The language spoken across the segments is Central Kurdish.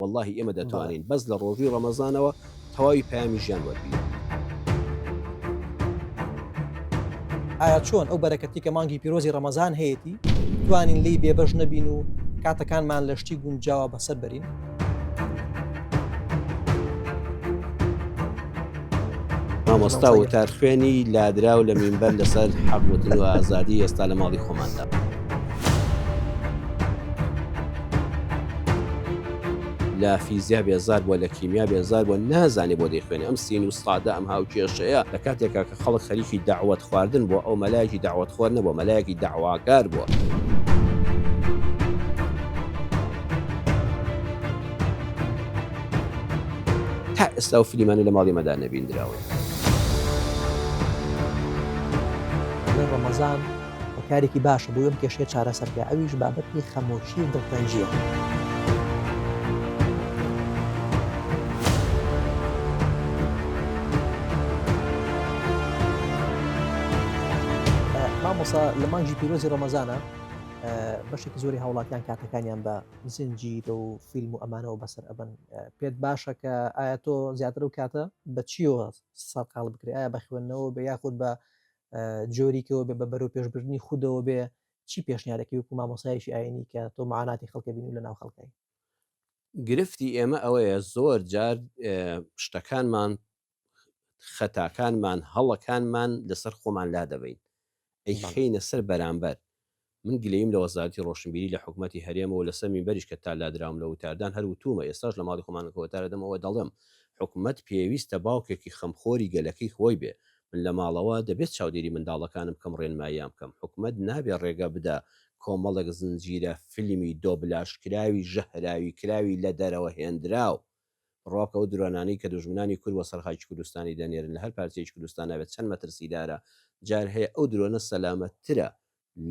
وەڵاهی ئێمە دەتوانین بەس لە ڕۆژووی ڕەمەزانەوە تەواوی پامی ژیان وەربی. ئایا چۆن ئەو بەرەکەتی کە مانگی پیرۆزی ڕەمەزان هەیەی توانین لی بێبەش نەبین و کاتەکانمان لە شتی گونجاوە بەسەر بەرین؟ مامۆستا وتار خوێنی لادراو لە مینبەر لەسەر حەقوتن و ئازادی ئێستا لە ماڵی خۆماندا. لە فیزیا بێزار بووە لە کیمیا بێزار بووە نازانێ بۆ دەیخوێنێ ئەم سین و سادە ئەم هاوکێشەیە لە کاتێکا کە خەڵک خەریکی داوت خواردن بۆ ئەو مەلایەکی داوت خۆر نەبووە مەلایەکی داواکار بووە. تا ئێستا ئەو فلیمانە لە ماڵی ئێمەدا نەبیندراون. دەڵێ ڕەمەزان هۆکارێکی باشە بۆی ئەم کێشەیە چارەسەر بکا، ئەویش بابەتی خەمۆکی و دڵتەنگییە. مامۆستا لە مانگی پیرۆزی ڕەمەزانە بەشێکی زۆری هاوڵاتیان کاتەکانیان بە زنجیرە و فیلم و ئەمانەوە بەسەر ئەبەن پێت باشە کە ئایا تۆ زیاتر و کاتە بە چیەوە سەرقال بکرێت ئایا بە خوێندنەوە بە یاخود بە جۆریکەوە بێ بە بەرەو پێشبردننی خودەوە بێ چی پێشنیارەکەی وکو مامۆسایشی ئاینی کە تۆ معاناتی خەڵکە بین و لە ناو خەڵکای. گرفتی ئێمە ئەوەیە زۆر جار شتەکانمان خەتاکانمان هەڵەکانمان لەسەر خۆمان لادەبەین ئەیخەینە سەر بەرامبەر من گلەییم لە وەزارەتی ڕۆشنبیری لە حکومەتی هەرێمەوە لەسەر مینبەریش کە تا لادراوم لە وتاردان هەر وتوومە ئێستاش لە ماڵی خۆمان کە وتار ئەدەم ئەوە دەڵێم حکومەت پێویستە باوکێکی خەمخۆری گەلەکەی خۆی بێ من لە ماڵەوە دەبێت چاودێری منداڵەکانم بکەم ڕێنماییان بکەم حکومەت نابێ ڕێگە بدا کۆمەڵێک زنجیرە فیلمی دۆبلاژکراوی ژەهراوی کراوی لە دەرەوە هێندراو بڕواکە ئەو درۆانانەی کە دوژمنانی کورد بۆ سەر خاکی کوردستانی دەنێرن لە هەر پارچەیەکی کوردستان نابێت چەند مەترسیدارە، جار هەیە ئەو درۆنە سەلامەتترە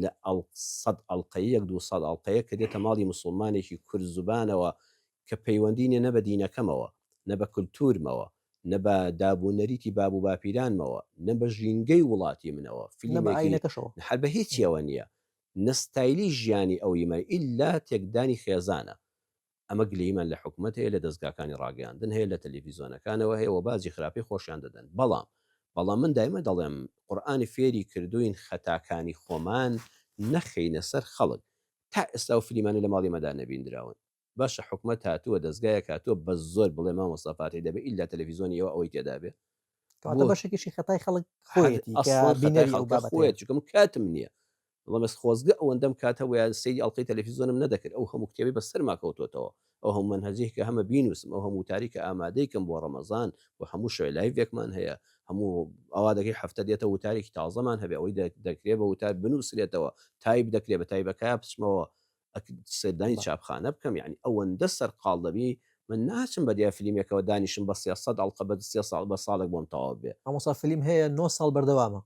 لە ئەڵق سەد ئەڵقەیەک دوو سەد ئەڵقەیەک کە دێتە ماڵی موسڵمانێکی کورد زوبانەوە کە پەیوەندی نیە نە بە دینەکەمەوە نە بە کلتورمەوە نە بە داب و نەریتی باب و باپیرانمەوە نە بە ژینگەی وڵاتی منەوە نە بە فلیمێکی ئاینەکەشەوە. هەر بە هیچیەوە نیە نە ستایلی ژیانی ئەویمە ئیلا تێکدانی خێزانە ئەمە گلەییمان لە حکومەت هەیە لە دەزگاکانی ڕاگەیاندن هەیە لە تەلەفیزۆنەکانەوە هەیە وە باجی خراپی خۆشیان دەدەن بەڵام بەڵام من دایمە دەڵێم قورئانی فێری کردووین خەتاکانی خۆمان نەخەینە سەر خەڵک تا ئێستا ئەو فلیمانە لە ماڵی مەدا نەبیندراون باشە حکومەت هاتووە دەزگایەک هاتووە بە زۆر بڵێ مامۆستا فاتیح دەبێ ئیلا تەلەفیزۆنی ئێوە ئەوەی تێدابێ کەواتە بۆ بەشێکیشی خەتای خەڵک خۆیەتی کە ئەسڵەن خەتای بینەری ئەو خەڵکە بابەتەیە خۆیەتی چونکە من کاتم نییە مەبەست خۆزگە ئەوەندەم کات هەبوایە سەیری ئەڵقەی تەلەفیزۆنم نەدەکرد ئەو هەموو کتێبەی بەسەرما کەوتۆتەوە ئەو هەموو مەنهەجەی کە هەمە بینوسم ئەو هەموو وتاری کە ئامادەی کەم بۆ ڕەمەزان و هەموو شەوێ لایڤێکمان هەیە هەموو ئەوا دەکەی هەفتە دێتە وتارێکی تازەمان هەبێ ئەوەی دەکرێ بە وتار بنوسرێتەوە تایپ دەکرێ بە تایبەکایە بچمەوە ئەک سەردانی چاپخانە بکەم یعنی ئەوەندە سەرقاڵ دەبی من ناچم بە دیا فلیمێکەوە دانیشم بە سێ سەد ئەڵقە بە سێ ساڵ بە ساڵێک بۆم تەواو بێ. مامۆستا فلیم هەیە نۆ ساڵ بەردەوامە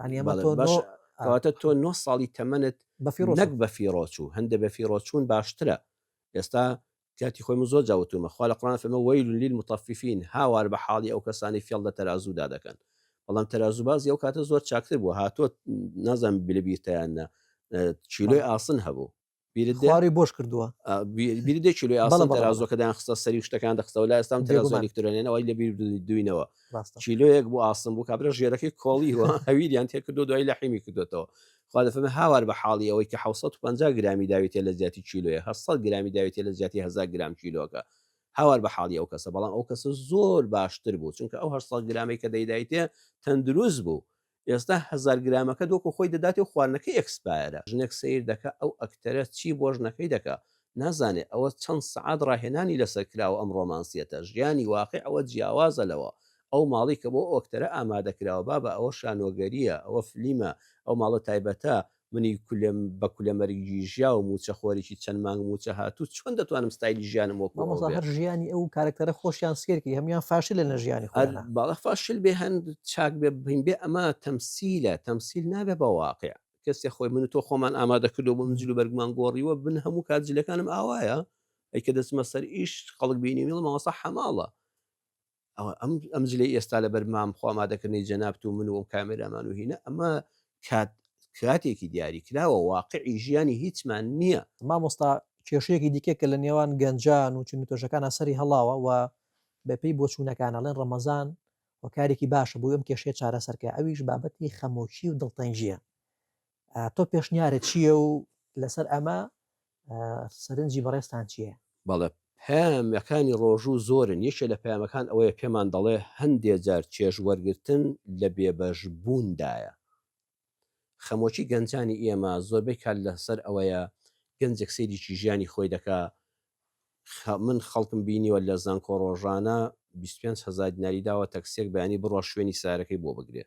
ئەمەواتە تۆ نۆ ساڵی تەمەنت بەفیڕۆک بەفیڕۆچوو هەندە بەفیڕۆچوون باشترە ئێستا کاتی خۆی من زۆر جاوتومە خوا لە قڕان فەمە وەیل لیل متەفیفین هاوار بە حاڵی ئەو کەسانی فێڵ لە تەرازوودا دەکەن بەڵام تەرازوبازی ئەو کاتە زۆر چاکتر بوو هاتۆ نازم بلبیرتەیاننا چیلۆی ئاسن هەبوو خواری بۆش کردووە بیردێکی لێ ئاسڵ تەرازۆکەدان خستە سەری شتەکان دەخستەوە لا ئێستان تەرازۆلیکترۆنێنەوەی لە بیر دوی نەوە چیلۆیەک بۆ ئاسم بوو کابرا ژێرەکەی کۆڵی وە هەویریان تێکردو دوای لە حیمی کردوێتەوە خوا دەفەن هاوار بە حاڵی ئەوەی کە 1950 گرامی داوێتێ لە زیاتی چیلۆیە هە سەد گرامی داوێتێ لە زیاتی هزار گرام چیلۆکە هاوار بە حاڵی ئەو کەسە بەڵام ئەو کەسە زۆر باشتر بوو چونکە ئەو هەر سەد گرامی کە دەیدایتێ تەندروست بوو ئێستا هەزار گرامەکەت وەکو خۆی دەداتێ و خواردنەکەی ئێکسپایەرە ژنێک سەیر دەکا ئەو ئەکتەرە چی بۆ ژنەکەی دەکا نازانێ ئەوە چەند سەعات ڕاهێنانی لەسەر کراوە ئەم ڕۆمانسیەتە ژیانی واقیع ئەوە جیاوازە لەوە ئەو ماڵی کە بۆ ئەو ئەکتەرە ئامادە کراوە بابە ئەوە شانۆگەریە ئەوە فلیمە ئەو ماڵە تایبەتە منی کولێم بە کولە مەرگی ژیا و موچە خۆرێکی چەند مانگ موچە هاتوو چۆن دەتوانم ستایلی ژیانم وەک هەر ژیانی ئەو کارکتەرە خۆشیان سێرکی هەمیان فاشل لە ژیانی باڵە فاشل بێ هەند چاک بێ بین بێ ئەمە تەمسیلە تەمسیل نابێ بە واقع کەسێ خۆی من تۆ خۆمان ئامادە کردو بۆ منجل و بەرگمان گۆڕیوە بن هەموو کات جلەکانم ئاوایە ئەی کە دەچمە سەر ئیش خەڵک بینی میڵ ماوەسا حەماڵە ئەوە ئەم ئەم جلی ئێستا لە بەر مام خۆ ئامادەکردنی جەنابت و من و ئەم کامێرامان و هینە ئەمە کات کاتێکی دیاری کراوە واقعی ژیانی هیچمان نییە مامۆستا کێشەیەکی دیکە کە لە نێوان گەنجان و چون تۆشەکان ئەسەری هەڵاوە و بەپی بۆچوونەکان ئەڵێن ڕەمەزان و کارێکی باشە بۆی ئەم کێشەیە چارەسەرکە ئەویش بابەتی خەمۆکی و دڵتەنگیە تۆ پێشنیارە چییە و لەسەر ئەمە سەرنجی بەڕێستان چییە؟ بەڵێ پامەکانی ڕۆژوو زۆرن یەکێ لە پامەکان ئەوەیە پێمان دەڵێ هەندێ جار چێژ وەرگتن لە بێبەش بووندایە خەمۆکی گەنجانی ئێمە زۆربەی کار لەسەر ئەوەیە گەنجێک سەیریکی ژیانی خۆی دەکا من خەڵکم بینیوە لە زانکۆ ڕۆژانە 25 هزار دیناری داوە تەکسێک بەیانی بڕۆ شوێنی سارەکەی بۆ بگرێ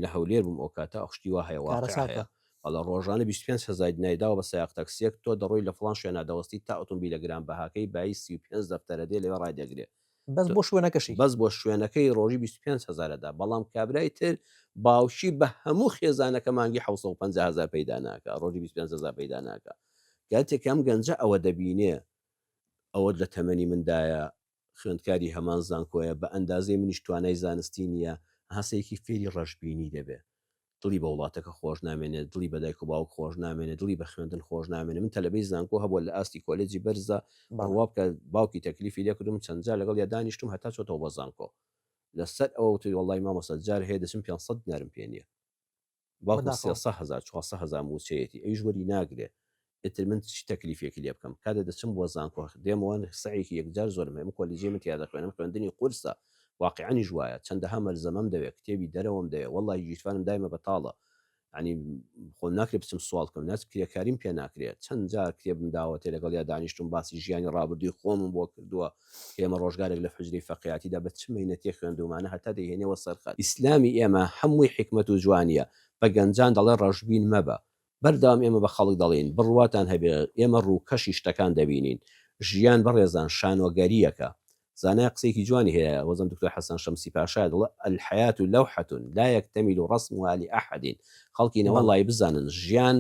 لە هەولێر بووم ئەو کاتە ئەو شتی وا هەیە واقع هەیە بەڵێ ڕۆژانە 25 هەزار دیناری داوە بە سایەق تەکسییەک تۆ دەڕۆی لە فڵان شوێنا دەوەستی تا ئۆتۆمبیلە گرانبەهاکەی بایی 35 دەفتەرە دێ لەوێ ڕای دەگرێ بەس بۆ شوێنەکەشی بەس بۆ شوێنەکەی ڕۆژی 25 هەزارە دا بەڵام کابرای تر باوکی بە هەموو خێزانەکە مانگی 1950 هزار پەیدا ناکە ڕۆژی 25 هزار پەیدا ناکە گاتێکم گەنجە ئەوە دەبینێ ئەوە لە تەمەنی مندایە خوێندکاری هەمان زانکۆیە بە ئەندازەی منیش توانای زانستی نیە هەسەیەکی فێری ڕەشبینی دەبێ دڵی بە وڵاتەکە خۆش نامێنێ دڵی بە دایک و باوک خۆش نامێنێ دڵی بە خوێندن خۆش نامێنێ من تەلەبەی زانکۆ هەبوە لە ئاستی کۆلێجی بەرزدا بڕوا بکە باوکی تەکلیفی لێکردم چەند جار لەگەڵ یا دانیشتم هەتا چۆتەوە بە زانکۆ لەسەر ئەوە وتی وەڵای مامۆستا جار هەیە دەچم پێنج سەد دینارم پێ نیە بەڵکو سێ سەد هەزار چوار سەد هەزار مووچەیەتی ئەویش وەری ناگرێ ئیتر من چ تەکلیفێکی لێ بکەم کاتێ دەچم بۆ زانکۆ دێمەوە سەعێکی یەکجار زۆرم هەیە من کۆلیجەی من تیا دەخوێنم خوێندنی قورسە واقیعەنیش وایە چەندەها مەلزەمەم دەوێ کتێبی دەرەوەم دەوێ وەڵڵاهی گیرفانم دایمە بەتاڵە یانی خۆم ناکرێ بچم سواڵ کەم ناچ کرێکاریم پێ ناکرێت چەند جار کتێبم داوەتێ لەگەڵیا دانیشتم باسی ژیانی ڕابردووی خۆمم بۆ کردووە ئێمە ڕۆژگارێک لە حوجرەی فەقێیاتیدا بە چ مەینەتێک خوێندوومانە هەتا دەیهێنێەوە سەر خەت. ئیسلامی ئێمە هەمووی حیکمەت و جوانییە، بە گەنجان دەڵێ ڕەشبین مەبە. بەردەوام ئێمە بە خەڵک دەڵێین، بڕواتان هەبێ ئێمە ڕووکەشی شتەکان دەبینین. ژیان بەڕێزان شانۆگەرییەکە. زانایە قسەیەکی جوانی هەیە، وەزم دکتۆر حەسەن شەمسی پاشایە دەڵێ، الحیاة لوحة لا یکتمل رسمها لأحد خەڵکی نەوەن وای بزانن ژیان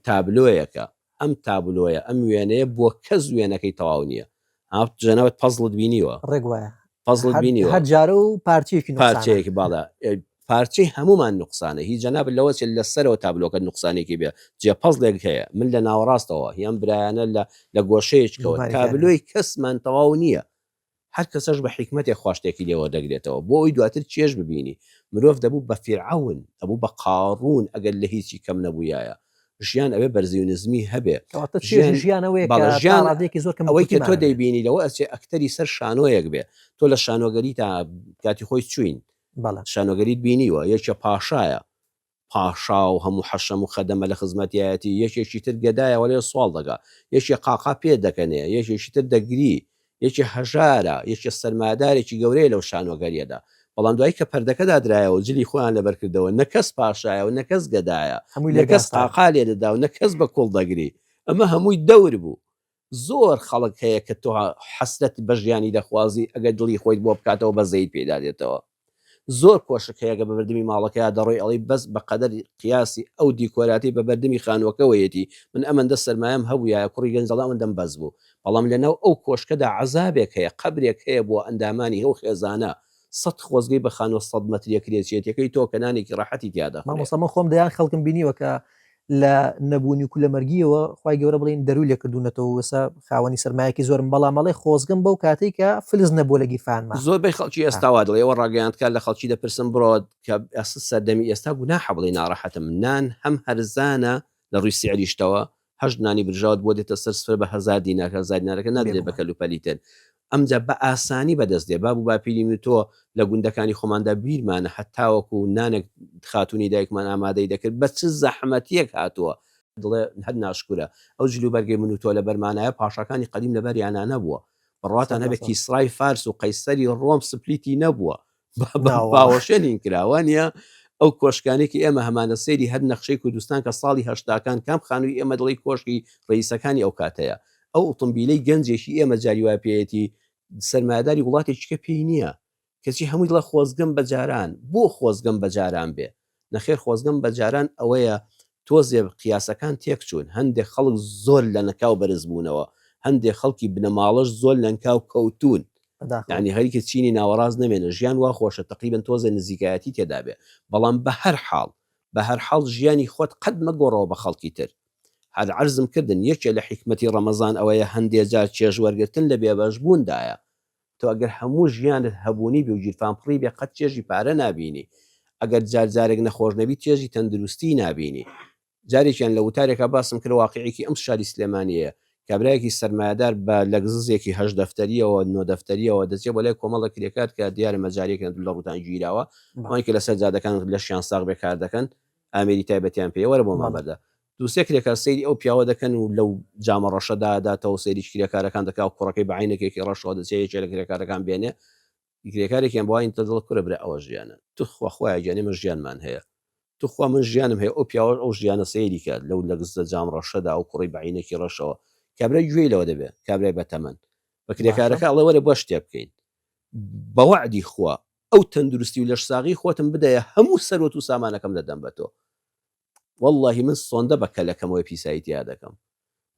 تابلۆیەکە، ئەم تابلۆیە، ئەم وێنەیە بۆ کەس وێنەکەی تەواو نییە. ها جا نەوت پەزڵت بینیوە؟ ڕێک وایە. پەزڵت بینیوە؟ هەر جارە و پارچەیەکی نوقسانە. پارچەیەکی باڵا. پارچەی هەموومان نوقسانە. هی جەنابت لەوە چییە لە سەرەوە تابلۆکەت نوقسانێکی بێ جێ پەزڵێک هەیە. من لە ناوەڕاستەوە. هی ئەم برایانە لە لە گۆشەیەچکەوە. تابلۆی کەسمان تەواو نییە. هەر کەسەش بە حیکمەتێک خوا شتێکی لێ وەردەگرێتەوە بۆ ئەوەی دواتر چێژ ببینی مرۆڤ دەبوو بە فیرعەون ئەبوو بە قاڕون ئەگەر لە هیچی کەم نەبوویایە ژیان ئەبێ بەرزی و نزمی هەبێ کەواتە چێژی ژیان ژیان ئەوەیە کە بەڵێ، تا ژیان ڕادەیەکی زۆر کەم و ئەوەی کە کورتیمان تۆ هەبێت. دەیبینی لەوە ئەچێ ئەکتەری سەر شانۆیەک بێ تۆ لە شانۆگەریتا کاتی خۆی چووین بەڵێ شانۆگەریت بینیوە یەکێ پاشایە پاشا و هەموو حەشەم و خەدەمە لە خزمەتیایەتی، یەکێکی تر گەدایە وەلێ سواڵ دەکا، یەکێ قاقا پێ دەکەنێ، یەکێکی تر دەگری، یەکێ هەژارە، یەکێ سەرمایەدارێکی گەورەیە لەو شانۆگەرییەدا. بەڵام دوایی کە پەردەکە دادرایەوە و جلی خۆیان لەبەر کردەوە، نە کەس پاشایە و نە کەس گەدایە، نە کەس قاقا لێ دەدا و نە کەس بە کوڵ دەگری، ئەمە هەمووی دەور بوو. زۆر خەڵک هەیە کە تۆ حەسرەت بە ژیانی دەخوازی ئەگەر دڵی خۆیت بۆ بکاتەوە بەزەیت پێیدا دێتەوە زۆر کۆشک هەیە کە بە بردمی ماڵەکەیا دەڕۆی ئەڵێی بەس بە قەدەر قیاسی ئەو دیکۆراتەی بە بەردمی خانووەکەوەیەتی من ئەمەندە سەرمایەم هەبوویایە کوڕی گەنج دەڵێ ئەمەندەم بەس بوو بەڵام لەناو ئەو کۆشکەدا عەزابێک هەیە قەبرێک هەیە بۆ ئەندامانی ئەو خێزانە سەد خۆزگەی بە خانووە سەد مەتریە کرێچیەتیەکەی تۆ کە نانێکی ڕەحەتی تیا دەخورێ. مامۆستا من خۆم دەیان خەڵکم بینیوە کە لە نەبوونی و کولەمەرگیەوە خوای گەورە بڵێین دەرووی لێ کردوونەتەوە و ئێستا خاوەنی سەرمایەکی زۆرن بەڵام ئەڵێ خۆزگەم بەو کاتەی کە فلس نەبووە لە گیرفانما. زۆربەی خەڵکی ئێستا وا دەڵێ ئێوە ڕاگەیاندکار لە خەڵکی دەپرسن بڕۆ کە ئەسڵ سەردەمی ئێستا گوناحە بڵێی ناڕەحەتم نان هەم هەرزانە لە ڕووی سیعریشتەوە هەشت نانی برژاوت بۆ دێتە سەر سفرە بە هەزار دینار هەزار دینارەکە نادرێ بە کەلوپەلی تر ئەمجا بە ئاسانی بەدەست دێ. باب و باپیری من و تۆ لە گوندەکانی خۆماندا بیرمانە هەتاوەکو نانەک خاتوونی دایکمان ئامادەی دەکرد بە چ زەحمەتییەک هاتووە، دڵێ هەر ناشکورە ئەو جل و بەرگەی من و تۆ لەبەرمانایە پاشاکانی قەدیم لەبەریانا نەبووە، بڕواتان هەبێ کیسرای فارس و قەیسەری ڕۆم سپلیتی نەبووە، باوەشێنین کراوە نیە ئەو کۆشکانێکی ئێمە هەمانە سەیری هەر نەخشەی کوردستان کە ساڵی هەشتاکان کام خانووی ئێمە دڵی کۆشکی ڕئیسەکانی ئەو کاتەیە ئەو ئۆتمبیلەی گەنجێکی ئێمە جاریوا پێەتی سەرمایداری وڵاتێکیکە پێی نییە کەچی هەمووی لە خۆزگەم بە جاران بۆ خۆزگەم بە جاران بێ نەخێر خۆزگەم بە جاران ئەوەیە تۆزێ قیاسەکان تێک چوون هەندێک خەڵک زۆر لەنکاو بەرز بوونەوە هەندێک خەڵکی بنەماڵەش زۆر لەنکاو کەوتوون یانی هەریکە چینی ناوەڕاست نەمێنێ ژیان وا خۆشە تەقریبەن تۆزێ نزیکایەتی تێدا بێ بەڵام بەهەر حاڵ بەهەر حاڵ ژیانی خۆت قەت مەگۆڕەوە بە خەڵکی تر هەر عەرزم کردن یەکێ لە حیکمەتی ڕەمەزان ئەوەیە هەندێ جار چێژ وەرگرتن لە بێبەش بووندایە تۆ ئەگەر هەموو ژیانت هەبوونی بێ و گیرفان پڕی بێ قەت چێژی پارە نابینی ئەگەر جار جارێک نەخۆش نەبی چێژی تەندروستی نابینی جارێکیان لە وتارێکا باسم کرد واقعێکی ئەم شاری سلێمانیەیە کابرایەکی سەرمایەدار بە لەگززێکی هەشت دەفتەریەوە نۆ دەفتەریەوە دەچێ بۆ لای کۆمەڵە کرێکار کە دیارە مەجاریەکیان دوو لە ڕووتان گیراوە ئەوان کە لەسەر جادەکان لەشیان ساغ بێ کار دەکەن ئامێری تایبەتیان پێ وەرە بۆ مامەردە دووسێ کرێکار سەیری ئەو پیاوە دەکەن و لەو جامە ڕەشەدا ئەداتەوەو سەیریی کرێکارەکان دەکا و کوڕەکەی بە عەینەکێکی ڕەشەوە دەچێ یەکێ لە کرێکارەکان بێنێ کرێکارێکیان بۆ عەینتە دەڵێ کورە برا ئەوە ژیانە توخوا خوایە گیان ئێمە ژیانمان هەیە توخوا من ژیانم هەیە ئەو پیاوەش ئەو ژیانە سەیری کات لەو لەگززە جام ڕەشەدا ئەو کوڕی بە عەینەکی ڕەشەوە کابرای گوێی لەوە دەبێ کابرای بەتەمەن بە کرێکارەکە ئەڵێ وەرە با شتێ بکەین بە وەعدی خوا ئەو تەندروستی و لەشساغی خۆتم بدەیە هەموو سەروەت و سامانەکەم دەدەم بە تۆ وەڵڵاهی من سۆندە بە کەلەکەمەوەی پیسایی تیا دەکەم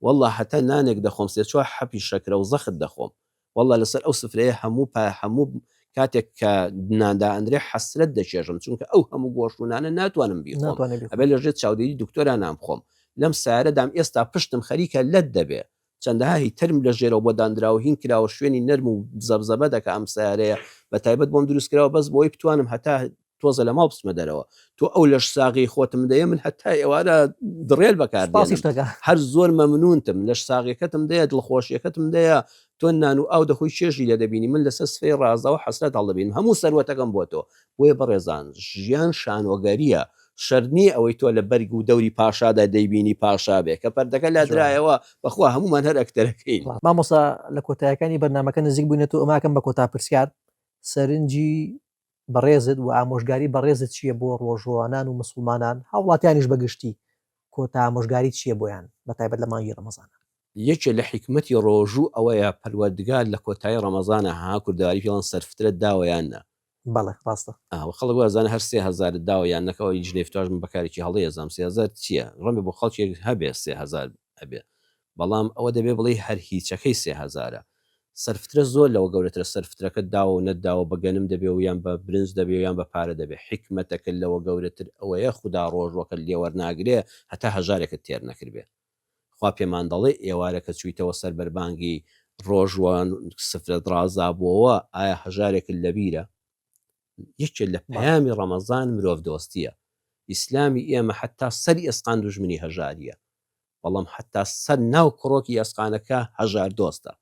وەڵڵا هەتا نانێک دەخۆم سێ چوار حەپی شەکرە و زەخت دەخۆم وەڵڵا لەسەر ئەو سفرەیە هەموو پا هەموو کاتێک کە نان دائەنرێ حەسرەت دەچێژم چونکە ئەو هەموو گۆشت و نانە ناتوانم بیخۆم ئەبێ لەژێر چاودێری دکتۆرانان بخۆم لەم سارەدام ئێستا پشتم خەریکە لەت دەبێ چەندەها هی تەرم لە ژێرەوە بۆ داندراوە هین کراوە شوێنی نەرم و زەبزەبە دەکا ئەم سەیارەیە بە تایبەت بۆم دروست کراوە بەس بۆی بتوانم هەتا تۆزە لە ماڵ بچمە دەرەوە تۆ ئەو لەش ساغی خۆتم دەیە من هەتا ئێوارە دڕێل بەکار پاسیش دەکە هەر زۆر مەمنونتم لەش ساغیەکەتم دەیە دڵخۆشیەکەتم دەیە تۆ نان و ئاو دەخۆی چێژی لێ دەبینی من لەسەر سفرەی ڕازاوە حەسرەت هەڵدەبینم هەموو سەروەتەکەم بۆ تۆ بۆیە بەڕێزان ژیان شانۆگەریە شەرت نیە ئەوەی تۆ لە بەرگ و دەوری پاشادا دەیبینی پاشا بێ کە پەردەکە لادرایەوە بەخوا هەموومان هەر ئەکتەرەکەین. مامۆستا لە کۆتایەکانی بەرنامەکە نزیک بووینەتۆ ئەماکەم بە کۆتا پرسیار سەرنجی بەڕێزت و ئامۆژگاری بەڕێزت چیە بۆ ڕۆژووانان و مسوڵمانان هاوڵاتیانیش بە گشتی کۆتا ئامۆژگاری چیە بۆیان بە تایبەت لە مانگی ڕەمەزانا. یەکێ لە حیکمەتی ڕۆژوو ئەوەیە پەروەردگار لە کۆتایی ڕەمەزانا ها کوردەواری پێڵێن سەرفترەت داوە یان نا بەڵێ ڕاستە. ئاوە خەڵک وازانێ هەر سێ هەزارت داوە یان نەکەوە ئەوی جنێف تاش من بەکارێکی هەڵەی ئەزام سێ هەزار چیە ڕەنگە بۆ خەڵکێک هەبێ سێ هەزار هەبێ بەڵام ئەوە دەبێ بڵێی هەر هیچەکەی سێ هەزارە سەرفترە زۆر لەوە گەورەترە سەر فترەکەت داوە و نەتداوە بە گەنم دەبێ و یان بە برنج دەبێ و یان بە پارە دەبێ حیکمەتەکە لەوە گەورەتر ئەوەیە خودا ڕۆژوەکەت لێ وەرناگرێ هەتا هەژارێکت تێر نەکردبێ خوا پێمان دەڵێ ئێوارە کە چوویتەوە سەر بەربانگی ڕۆژ و سفرەت ڕازابووەوە ئایا هەژارێکت لەبیرە؟ یەکێ لە پەیامی ڕەمەزان مرۆڤ دۆستیە. ئیسلامی ئێمە حەتا سەری ئێسقان دوژمنی هەژاریە. بەڵام حەتا سەر ناو کڕۆکی ئێسقانەکە هەژار دۆستە.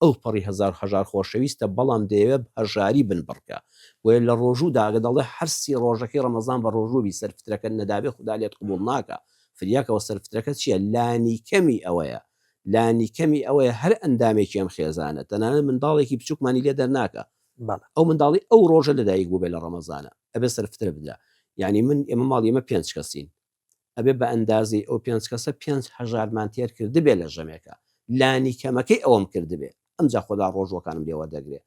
ئەوپەڕی هەزار هەژار خۆشەویستە بەڵام دەیەوێ بەهەژاری بنبڕکە بۆیە لەڕۆژوودا ئەگە دەڵێ هەر سی ڕۆژەکەی ڕەمەزان بەڕۆژووبی سەر فترەکەت نەدابێ خودا لێت قبوڵ ناکا فریاکەوە سەر فترەکە چیە لانیکەمی ئەوەیە لانیکەمی ئەوەیە هەر ئەندامێکی ئەم خێزانە تەنانەت منداڵێکی بچوکمانی لێ دەرناکا ئەو منداڵی ئەو ڕۆژە لەدایک بووبێ لەڕەمەزانا ئەبێ سەر فترە بدرا یانی من ئێمە ماڵی ئێمە پێنج کەسین ئەبێ بە ئەندازەی ئەو پێنج کەسە پێنج هەژارمان تێر کردبێ لە ژەمێکا لانی کەمەکەی ئەوەم کردبێ ئەمجا خودا ڕۆژووەکانم لێ وەردەگرێ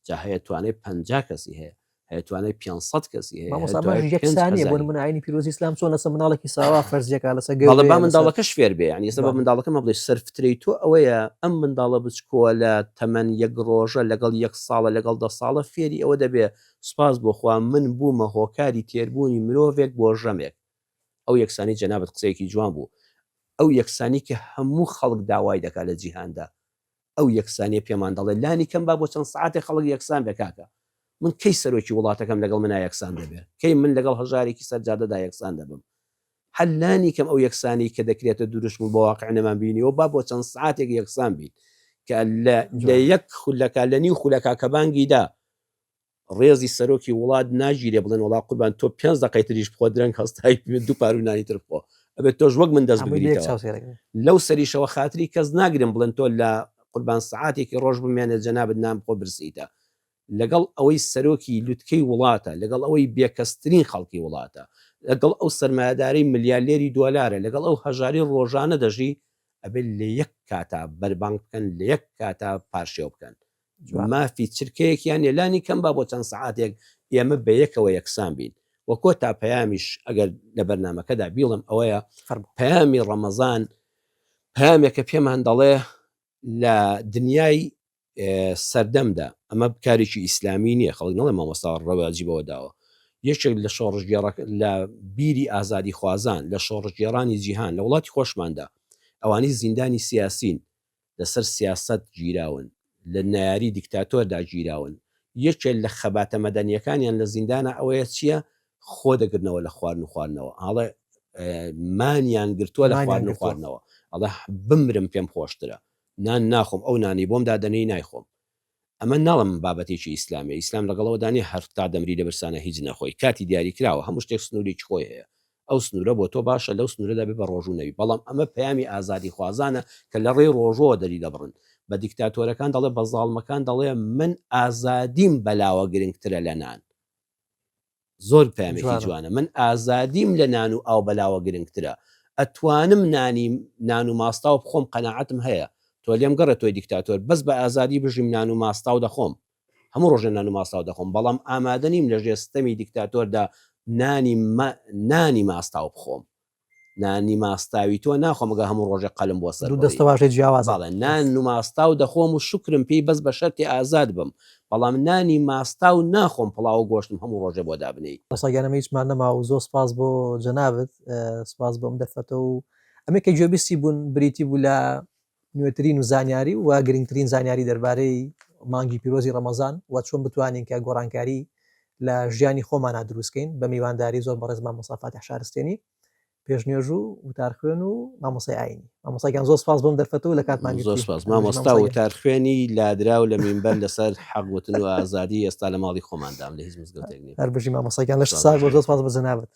جا هەیە توانای پەنجا کەسی هەیە هەیە توانای پێنج سەد کەسی هەیە مامۆستا هەیە توانای ماژی یەک پێنج سانیە هەزاری. بۆن من ئاینی پیرۆزی ئیسلام چۆن لەسەر مناڵێکی ساوا فەرزیەکە لەسەر گەورەیە، بەڵێ با لەسەر- منداڵەکەش فێر بێ یعنی ئێستا بە بەڵێ. منداڵەکەمە بڵێ سەرفترەی تۆ ئەوەیە ئەم منداڵە بچکۆلە تەمەن یەک ڕۆژە لەگەڵ یەک ساڵە لەگەڵ دە ساڵە فێری ئەوە دەبێ سپاس بۆ خوا من بوومە هۆکاری تێربوونی مرۆڤێک بۆ ژەمێک ئەو یەکسانی جەنابت قسەیەکی جوان بوو ئەو یەکسانی کە هەموو خەڵک داوای دەکات لە جیهاندا ئەو یەکسانیە پێمان دەڵێت لانی کەم با بۆ چەند سەعاتێک خەڵک یەکسان بێت کاکە من کەی سەرۆکی وڵاتەکەم لەگەڵ منا یەکسان دەبێت کەی من لەگەڵ هەژارێکی سەر جادەدا یەکسان دەبم هەر لانی کەم ئەو یەکسانی کە دەکرێتە دروشم و بە واقع نەمان بینیەوە با بۆ چەند سەعاتێک یەکسان بین کە لە یەک خولەکە لە نیو خولەکە کە بانگی دا ڕێزی سەرۆکی وڵات ناگیرێ بڵێن وەڵا قوربان تۆ پێنج دەقەی تریش بخۆ درەنگ هەستای پێ دوو پاروی نانی تر بخۆ ئەبێت تۆش وەک من دەست هەمووی لە یەک بگریتەوە چاو سێرە گرن. لەو سەریشەوە خاتری کەس ناگرم بڵێن تۆ لە قوربان سەعاتێکی ڕۆژ بمێنێ جەنابت نان بخۆ برسیتە لەگەڵ ئەوەی سەرۆکی لوتکەی وڵاتە لەگەڵ ئەوەی بێکەسترین خەڵکی وڵاتە لەگەڵ ئەو سەرمایەدارەی ملیالێری دۆلارە لەگەڵ ئەو هەژاری ڕۆژانە دەژی ئەبێت لە یەک کاتا بەربانگ بکەن لە یەک کاتا پارشێو بکەن مافی چرکەیەکیان نیە لانی کەم با بۆ چەند سەعاتێک ئێمە بەیەکەوە یەکسان بین. وە کۆتا پەیامیش ئەگەر لە بەرنامەکەدا بیڵێم ئەوەیە پەیامی ڕەمەزان پەیامێکە پێمان دەڵێ لە دنیای سەردەمدا ئەمە بکارێکی ئیسلامی نییە خەڵک نڵێ مامۆستا ڕەواجی بەوە داوە یەکێک لە شۆڕژگێڕە لە بیری ئازادی خوازان لە شۆڕژگێرانی جیهان لە وڵاتی خۆشماندا ئەوانی زیندانی سیاسین لەسەر سیاسەت گیراون، لە نەیاری دیکتاتۆردا گیراون، یەکێ لە خەباتە مەدەنیەکانیان لە زیندانا ئەوەیە چیە خۆ دەگرنەوە لە خوارن و خواردنەوە ئاڵێ مانیان گرتووە لە خوارن و خواردنەوە ئەڵێ بمرم پێم خۆشترە نان ناخۆم ئەو نانی بۆم دادەنێی نایخۆم ئەمە ناڵێم بابەتێکی ئیسلامە ئیسلام لەگەڵەوەدا نیە هەر تا دەمری لە برسانە هیچ نەخۆی کاتی دیاری کراوە هەموو شتێک سنورێکی خۆی هەیە ئەو سنورە بۆ تۆ باشە لەو سنورەدا بێ بە ڕۆژوو نەبی بەڵام ئەمە پەیامی ئازادی خوازانە کە لە ڕێی ڕۆژوەوە دەری دەبڕن بە دیکتاتۆرەکان دەڵێ بە زاڵمەکان دەڵێ من ئازادیم بەلاوە گرنگترە لە نان زۆر پامێکی جوانە من ئازادیم لە نان و ئاو بەلاوە گرنگترە ئەتوانم نانی نان و ماستاو بخۆم قەنەعاتم هەیە تۆ لێم گەڕێت تۆی دیکتاتۆر بەس بە ئازادی بژیم نان و ماستاو دەخۆم هەموو ڕۆژە نان و ماستاو دەخۆم بەڵام ئامادە نیم لە ژێستەمی دیکتاتۆردا نانی نانی ماستاو بخۆم نانی ماستاوی تۆ ناخۆم گا هەموو ڕۆژێ قەلم بۆ سەر دوو دەستە واژەی جیاوازە بەڵێ نان و ماستاو دەخۆم و شوکرم پێی بەس بە شەرتێ ئازاد بم بەڵام نانی ماستاو ناخۆم پڵاوو گۆشتم هەموو ڕۆژێ بۆ دابنێی. مامۆستا گیان ئەمە هیچمان نەما و زۆر سپاس بۆ جەنابت سپاس بۆ ئەم دەرفەتە و ئەمەی کە گوێبیستی بوون بریتی بوو لە نوێترین و زانیاری و گرنگترین زانیاری دەربارەی مانگی پیرۆزی ڕەمەزان و چۆن بتوانین کە گۆڕانکاری لە ژیانی خۆمانا دروست کەین بە میوانداری زۆر بەڕێز مامۆستا فاتیح شارستێنی پێش نوێژ و وتار خوێن و مامۆسای ئاینی مامۆستا گیان زۆر سپاس بۆم دەرفەت و لە کاتمان زۆر سپاس مامۆستا وتار خوێنی لادراو لە مینبەر لەسەر حەق وتن و ئازادی ئێستا لە ماڵی خۆماندام لە هیچ مزگەوتێک نیە هەر بژی مامۆستا گیان لەش ساغ بە زۆر سپاس بۆ جەنابت